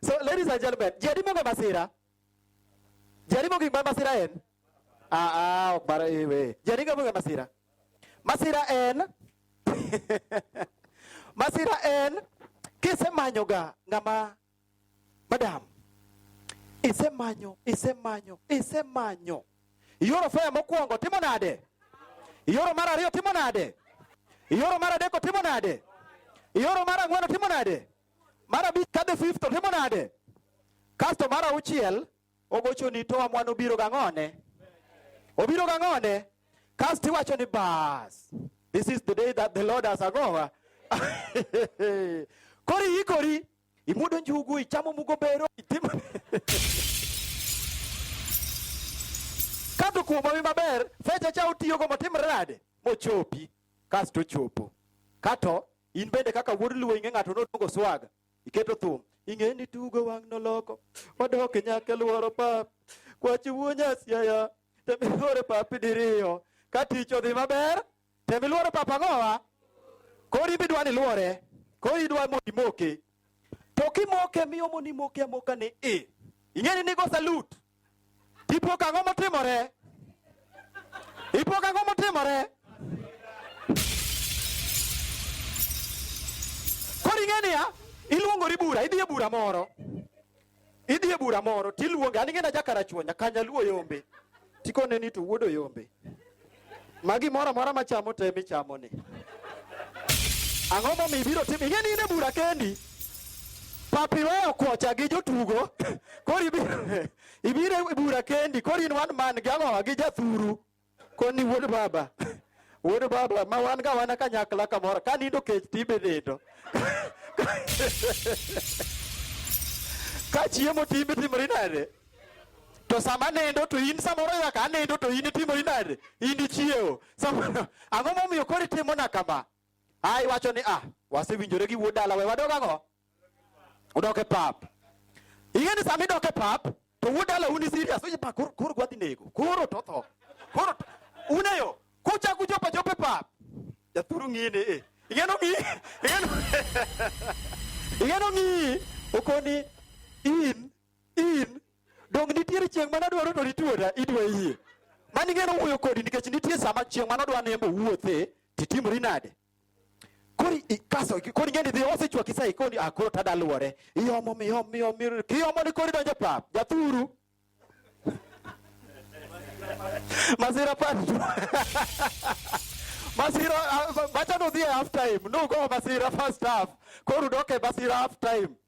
So ladies and gentlemen, jadimo ga masira. Jadimo gik ma masira en. Ah ah, ok bara ewe. Jadimo ga masira. Masira en. masira en kisemanyo ga ngama madam. Isemanyo, isemanyo, isemanyo. Yoro faya mokwongo timo nade? Yoro mar ariyo timo nade? Yoro mar adek timo nade? Yoro mar ang'wen timo nade? Mar abich ka the fifth to timo nade? Kasto mar auchiel ogocho ni to amwan obiro gang'one. Obiro gang'one. Kasto iwacho ni bas. This is the day that the Lord has agowa. Kori ikori imudo njugu ichamo mugo bero itimo Kato kuom awi maber fecha cha otiyogo motimre nade mochopi kasto ochopo kato In bende kaka wuod luo ing'e ng'ato nodwogo swaga. Iketo thum. Ing'e ni tugo wang' noloko. Wadok nyaka e lworo pap. Kwachi wuo nyasiaya. Tem ilwore pap diriyo. Ka tich odhi maber, tem ilwore pap ang'owa. Koro in bidwa ni ilwore. Koro idwa mondo imoke. To kimoke miyo mondo imoke amoka ni i. Ing'e ni nigo salute. Ipo kang'o motimore? Ipo kang'o motimore? Koro ing'e niya, iluongori bura, idhi e bura moro. Idhi e bura moro tiluonge, an ing'e na jakarachuonya, kanyaluo yombe. Tikone ni to wuodo yombe. Ma gimoro amora ma chamo te michamo ni. Ang'o momiyo ibiro timo? Ing'e ni in e bura kendi. Papi weyo kocha gi jotugo. Koro ibiro ibiro e bura kendi. Koro in wan man gi ang'owa gi jathuru. Koni wuod baba. Wuod baba ma wan ga wana kanyakla kamoro. Ka nindo kech tibe nindo. Ka chiemo tibe timri nade? To sama nindo to in samoro nyaka anindo to in itimo inade? In ichiewo. Samoro ang'o momiyo koro itimo na kama? Ai wacho ni ah, wasewinjore gi wuod dala we wadog ang'o? Udok e pap. Ing'e ni sama idok e pap to wuod dala uni serious. Oye pa koro koro gwadhi nego. Koro to tho. Koro to- uneyo kucha kuchopa chope pap. Jathuru ng'ini eh. Ing'eno ng'i. Ing'eno. Ing'eno ng'i okoni in In donge nitiere chieng' mane adwaro to nituora idwa yie. Mani ng'eno wuoyo kodi nikech nitie sama chieng' mane odwa nembo wuothe titimori nade? Kori ikaso kori ng'eni dhi osechwaki sai koni ah koro tada luore. Iomo mi om mi om mi kiomo ni kori donjo pap. Jathuru. Masira patu. Masira ah, bacha no dhie half time. No go masira first half. Koro doke masira half time.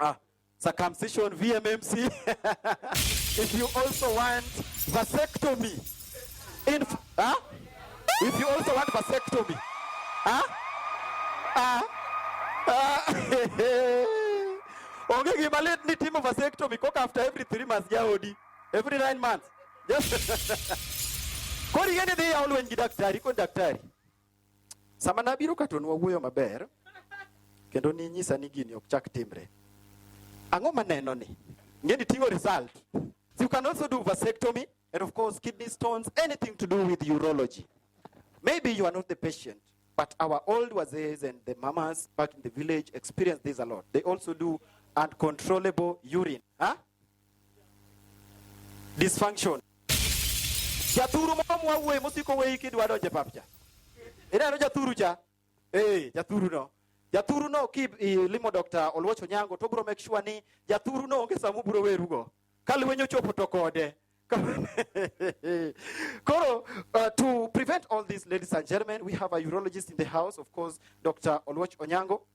uh, circumcision, VMMC. if you also want vasectomy, in, huh? if you also want vasectomy, huh? Uh, uh, onge gima lit ni timo vasectomy koka after every three months jaodi every nine months kori yende dhi yaw lweny gi daktari kon daktari Sama nabiro ka to nwawuoyo maber kendo ninyisa ni gini ok chak timre. Ang'o maneno ni? Ngeni tingo result. So you can also do vasectomy and of course kidney stones, anything to do with urology. Maybe you are not the patient, but our old wazees and the mamas back in the village experience this a lot. They also do uncontrollable urine. Huh? Dysfunction. Jathuru moro mwawuoye mosiko weyi kidwa donje papcha. Ineno jathuru cha? Eh, jathuru no. Jathuru no ki limo Dr. Oluoch Onyango to bro make sure ni jathuru no onge samu bro werugo. Kalwenyo chopo to kode. Koro, uh, to prevent all this, ladies and gentlemen, we have a urologist in the house, of course, Dr. Oluoch Onyango.